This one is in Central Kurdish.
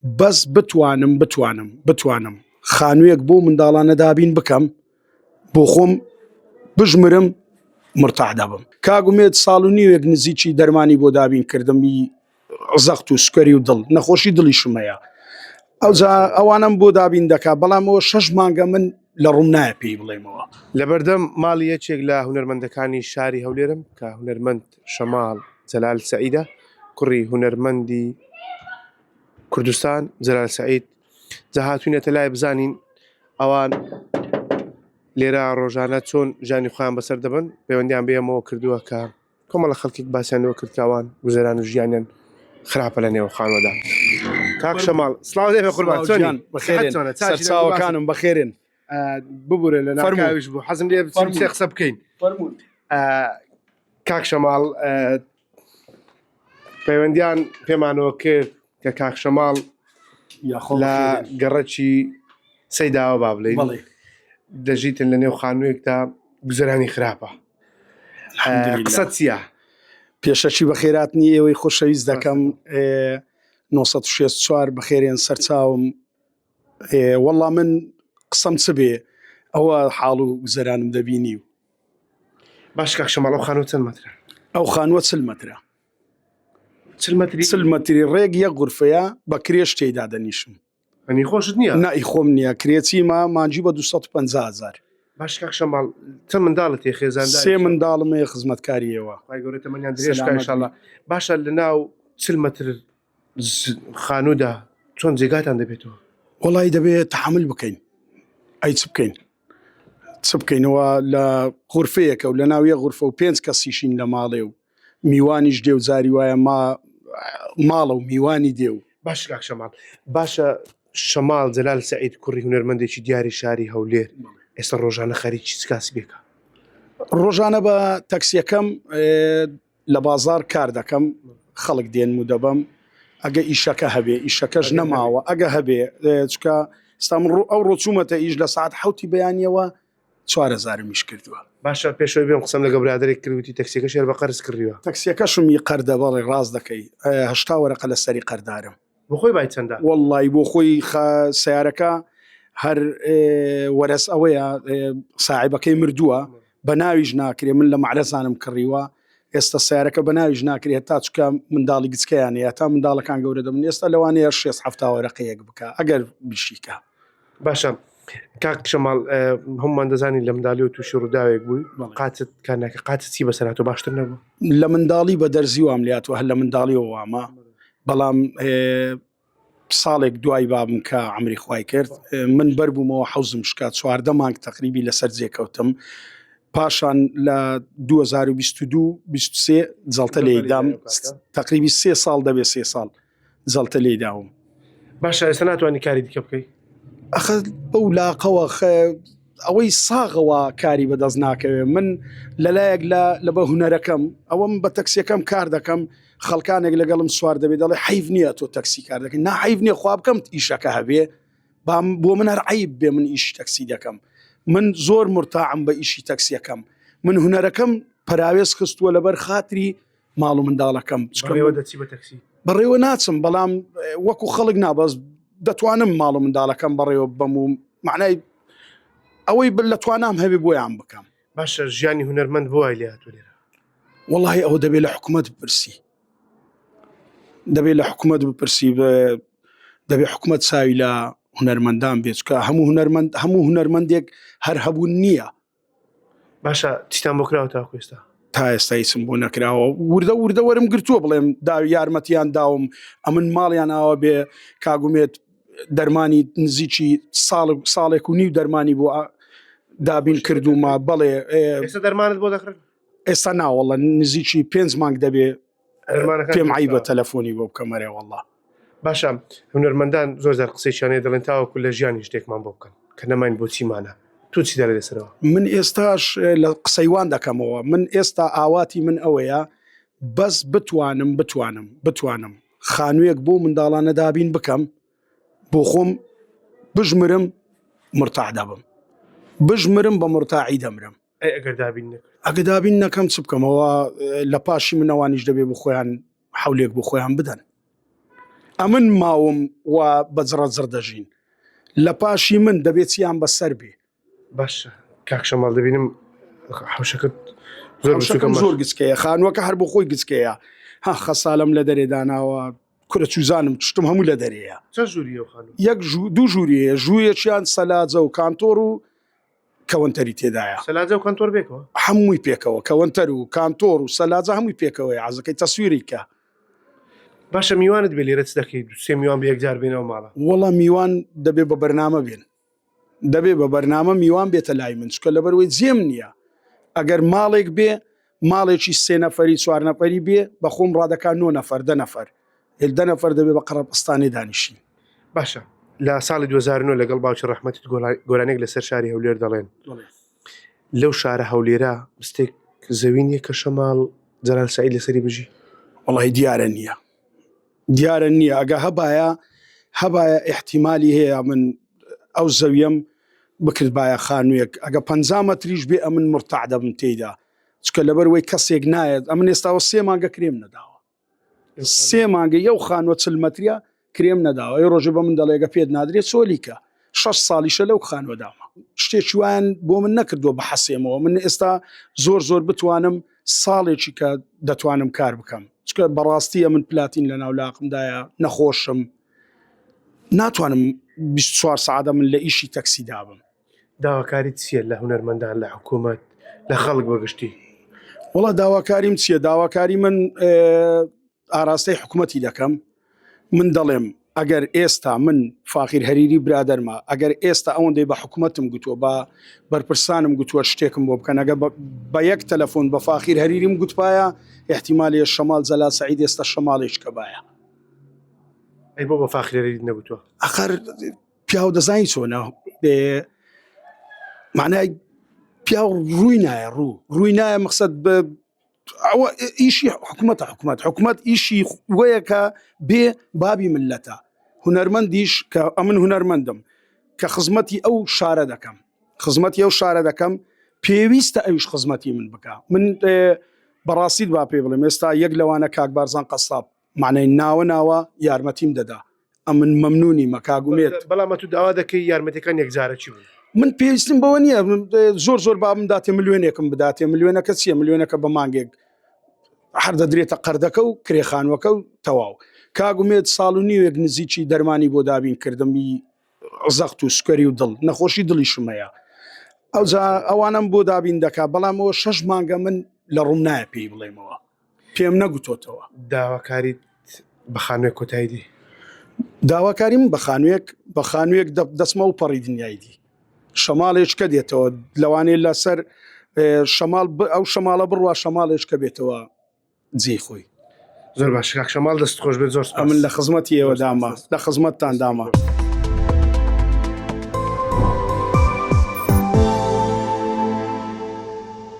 بەس بتوانم بتوانم بتوانم خانوویەک بۆ منداڵانە دابین بکەم بۆ خۆم بژمرم مرتاح دەبم کاگومێت ساڵ و نیوێک نزیکی دەرمانی بۆ دابین کردمی زەخت و سکەری و دڵ نەخۆشی دڵی شمەیە ئەوجا ئەوانم بۆ دابین دەکا بەڵامەوە شەش مانگە من لە ڕوم نایە پێی بڵێمەوە لەبەردەم ماڵی یەکێک لە هونەرمەندەکانی شاری هەولێرم کە هونەرمەند شەماڵ جەلال سەعیدە کوڕی هونەرمەندی کوردستان جەلال سەعید جا هاتوینەتە لای بزانین ئەوان لێرە ڕۆژانە چۆن ژانی خۆیان بەسەر دەبن پەیوەندیان بێمەوە کردووە کە کۆمەڵە خەڵکیک باسیانەوە کردکەوان گوزەران و ژیانیان خراپە لە نێو خانۆدا کاک شەماڵ سلااو لێ قوربان چۆن بەخێرێنەکانم بەخێرێن ببورە لە ناویش بوو حەزم لێ قسە بکەین کاک شەماڵ پەیوەندیان پێمانەوە کرد کە کاک شەماڵ لە گەڕەکی سەیداوە با بڵێ دەژیتن لە نێو خانوویەکدا گوزرانی خراپە قسە چیە پێشەکی بە خێرات نی ئێوەی خۆشەویست دەکەم 1964 بەخێرێن سەرچاوم وەڵا من قسەم چ بێ ئەوە حاڵ و گوزەرانم دەبینی و باش کاک شەماڵ ئەو خانووە چەند مەترە ئەو خانووە چل مەترە چل مەتری چل مەتری ڕێک یە غورفەیە بە کرێش تێیدا دەنیشم ئەنی خۆشت نییە نائی خۆم نییە کرێچی ما مانجی بە 250 هزار باش کاک شەماڵ چەند منداڵت هەیە خێزاندار سێ منداڵم هەیە خزمەتکاریەوە خی گەورە تەمەنیان درێژ سەلامەت کە انشاءاللە باشە لە ناو چل مەتر ز- خانوودا چۆن جێگاتان دەبێتەوە وڵی دەبێت تحمل بکەین ئەی چ بکەین چ بکەین وا لە غورفەیەکە و لە ناو یەک غورفە و پێنج کەسیشین لە ماڵێ و میوانیش دێ و جاری وایە ما ماڵە و میوانی دێ و. باشە کاک شەماڵ، باشە شەماڵ جەلال سەعید کوڕی هونەرمەندێکی دیاری شاری هەولێر ئێستا ڕۆژانە خەریکی چ کاسبێکە؟ ڕۆژانە بە تەکسیەکەم لە بازاڕ کار دەکەم خەڵک دێنم و دەبەم ئەگە ئیشەکە هەبێ ئیشەکەش نەماوە ئەگە هەبێ چکە ستا من ڕوو ئەو ڕۆچوومەتە ئیش لە سعات حوتی بەیانیەوە چوارەزارمیش کردووە باشە پێشەوەی بێم قسەم لەگە برادێک کردوتی تەکسیەکە شێر بە قەرز کردیوە تەکسیەکەشم ی قەردە بەڵێ ڕاست دەکەیهشتا وەرەقە لە سەری قەردارم بۆخۆی بای چەندە. وەڵڵایی بۆ خۆی خە سەیارەکە هەر وەرەس ئەوەیە ساعێبەکەی مردووە بەناویش ناکرێ من لە مەعرەزانم کڕیوە ئێستا سیارەکە بەناویش ناکرێت تا چکە منداڵی گچکەیانەیە تا منداڵەکان گەورە دەبن ئێستا لەوانەیە شێ هەفتاوەرەقەیەک بکە ئەگەر بشیکە. باشە کاک شەماڵ هەمومان دەزانین لە مندالی و تووشی ڕووداوێک بووی قاچت کانەکە قاچ چی بەسەرات و باشتر نەبوو لە منداڵی بە دەرزی وام لات و هەر لە منداڵی وامە بەڵام ساڵێک دوای بابم کە ئەمری خی کرد من بەربوومەوە حوزم شکا چواردە مانگ تەقریبی لەسەر جێکەوتم پاشان لە 2022 23 جڵتە لێدام تقریبی سێ ساڵ دەبێت سێ ساڵ جەڵتە لێی داوم. باشە ئێستا ناتوانانی کاری دیکە بکەی؟ ئەخە بەو لاقەوە ئەوەی ساغەوە کاری بەدەست ناکەوێت من لەلایەک لە لە بە هوەرەکەم ئەوەم بە تەکسیەکەم کار دەکەم خەڵکانێک لەگەڵم سوار دەبێت دەڵێ حیف نییە تۆ تەکسی کار دەکەن ناحیف نیە خوا بکەم ئیشەکە هەبێ بام بۆ من هەر عیب بێ من ئیش تەکسی دەکەم من زۆر مرتاعم بە ئیشی تەکسیەکەم من هوەرەکەم پراوێز خستووە لەبەر خاتری ماڵ و منداڵەکەم بەڕێوە ناچم بەڵام وەکو خەڵک نابەز دەتوانم ماڵ و منداڵەکەم بەڕێوە بەم و معنای ئەوەی بل لە توانام هەوێ بۆیان بکەم باشە ژیانی هونەرمەند بۆای لێ هاتو لێرە وڵی ئەوە دەبێت لە حکوومەت بپرسی دەبێت لە حکوومەت بپرسی دەبێت حکوومەت چاوی لە هونەرمەندان بێچکە هەموو هونەرمەند هەموو هونەرمەندێک هەر هەبوون نییە باشە چیتان بۆ کراوە تاکو ئێستا تا ئێستا هیچم بۆ نەکراوە وردە وردە وەرم گرتووە بڵێم دا یارمەتیان داوم ئەمن ماڵیان ئاوا بێ کاگومێت دەرمانی نزیکی ساڵ ساڵێک و نیو دەرمانی بۆ دابین کردومە بەڵێ ئێستا دەرمانت بۆ دەخن ئێستا ناوەڵە نزیکی پێنج مانگ دەبێ پێم عیبە تەلەفۆنی بۆ بکەم مەرێ وەڵا باشە هونەرمەندان زۆر زار قسەیشانەیە دەڵێن تاوەکو لە ژیانی شتێکمان بۆ بکەن کە نەمان بۆچیمانە تو چی دەێ لەسەرەوە من ئێستاش لە قسەیوان دەکەمەوە من ئێستا ئاواتی من ئەوەیە بەس بتوانم بتوانم بتوانم خانوویەک بۆ منداڵانە دابین بکەم بۆ خۆم بژمرم مرتاح دەبم بژمرم بە مرتاعی دەمرم ئەی ئەگەر دابین نەکرد ئەگە دابین نەکەم چ بکەمەوە لە پاشی منەوانیش دەبێ بۆ خۆیان حولێک بۆ خۆیان بدەن ئەمن ماوم و بەجڕە جڕ دەژین لە پاشی من دەبێت چیان بەسەر بێ باشە کاکشە ماڵ دەبینم حوشەکەت زۆر بچووکە شەکەم ماش. زۆر گچکەیە خانووەکە هەر بۆ خۆی گچکەیە ها خەسالم لە دەرێ داناوە کورە چوزانم چشتم هەموو لە دەرەیە چە ژووری ئەو خانم یەک ژوو- دوو ژووری هەیە ژوویەکیان سەلاجە و کانتۆر و کەوەنتەری تێدایە سەلاجە و کەنتۆر بێکەوە هەمووی پێکەوە کەوەنتەر و کانتۆر و سەلاجە هەمووی پێکەوەی عزەکەی تەسویری کە باشە میوانت بێ لێرە چ دەکەیت سێ میوان بە یەکجار بێنەوە ماڵە وەڵام میوان دەبێ بە بەرنامە بێن دەبێ بە بەرنامە میوان بێتە لای من چکە لەبەروەی جێم نییە ئەگەر ماڵێک بێ ماڵێکی سێ نەفەری چوار نەفەری بێ بە خۆم ڕادەکا نۆ نەفەر دە نەفەر هێل دە نەفەر دەبێ بە قەڕەبستانێ دانیشین. باشە لە ساڵی 2009 لەگەڵ باوکی ڕەحمەتت گۆرانێک لەسەر شاری هەولێر دەڵێن لەو شارە هەولێرە مستێک زەوی نیە کە شەماڵ جەلال سعید لەسەری بژی وڵی دیارە نییە دیارە نییە ئەگە هەبایە هەبایە ئیحتیمالی هەیە من ئەو زەویەم بکردبایە خانوویەک ئەگە پ مەتریش بێ ئەمن مرتاع دەبم تێیدا چکە لەبەر وەی کەسێک نایەت ئەمن ئێستاوە سێ مانگە کرێم نەداوە سێ مانگە یو خانوە چل مەتریە کرێم نەداوە ئەی ڕۆژە بە من دەڵێگە پێت نادرێت سۆلیکە شەش ساڵیشە لەو خانوەدامە شتێکی وایان بۆ من نەکردووە بحەسێمەوە من ئێستا زۆر زۆر بتوانم ساڵێکی کە دەتوانم کار بکەم چکە بەڕاستیە من پلاتین لە ناولاقمدایە نەخۆشم ناتوانم 24 سعادە من لە ئیشی تەکسی دابم داواکاریت چییە لە هونەرمەندان لە حکوومەت لە خەڵک بەگشتی وڵا داواکاریم چییە داواکاری من ئاراستەی حکومەتی دەکەم من دەڵێم ئەگەر ئێستا من فاخیر هەریری برادەرمە ئەگەر ئێستا ئەوەندەی بە حکومەتم گوتووە بە بەرپرسانم گوتووە شتێکم بۆ بکەنەگە بە یەک تەلەفۆن بە فاخیر هەریریم گوتپایە احتیمالێ شەمال زەلا سعید ئێستا شەماڵێک کە باە ئەی بۆ بە فاخرێری نەگوتووە ئەخر پیاو دەزانی چۆنە معنای پیاو ڕووی نایە ڕوو ڕووی نایە مەخصد بە ئەوە ئیشی حکوومەتە حکوومەت حکوومەت ئیشی وەیە کە بێ بابی ملەتە هونەرمەندیش کە ئەمن هونەرمەندم کە خزمەتی ئەو شارە دەکەم خزمەتی ئەو شارە دەکەم پێویستە ئەوش خزمەتی من بکە من بەڕاستیت با پێ بڵێم ئێستا یەک لەوانە کاک بارزان قەساب مەعنەی ناوە ناوە یارمەتیم دەدا ئەمن مەمنونیمە کاک ئومێد. بەڵام ئەتوو داوا دەکەی یارمەتیەکان یەکجارەکی بن. من پێویستیم بەوە نییە زۆر زۆر با بمداتێ ملیۆنێکم بداتێ ملیۆنەکە چییە ملیۆنەکە بە مانگێک هەر دەدرێتە قەردەکە و کرێخانوەکە و تەواو کاگومێت ساڵ و نیوێک نزیکی دەرمانی بۆ دابین کردمی زەخت و سکەری و دڵ نەخۆشی دڵیشم هەیە ئەوجا ئەوانم بۆ دابین دەکا بەڵام ئەوە شەش مانگە من لە ڕوم نایە پێی بڵێمەوە پێم نەگوتۆتەوە داواکاریت بە خانوێک کۆتایی دی. داواکاریم بە خانوێک بە خانوێک دەچمە و پەڕی دنیای دی شەماڵێچکە دێتەوە لەوانەیە لەسەر شەماڵ ئەو شەماڵە بڕوا شەماڵێچکە بێتەوە جێی خۆی. زۆر باش کاک شەماڵ دەست خۆش بێت زۆر سپاس. ئەمن لە خزمەتی ئێوە دامە لە خزمەتتان دامە.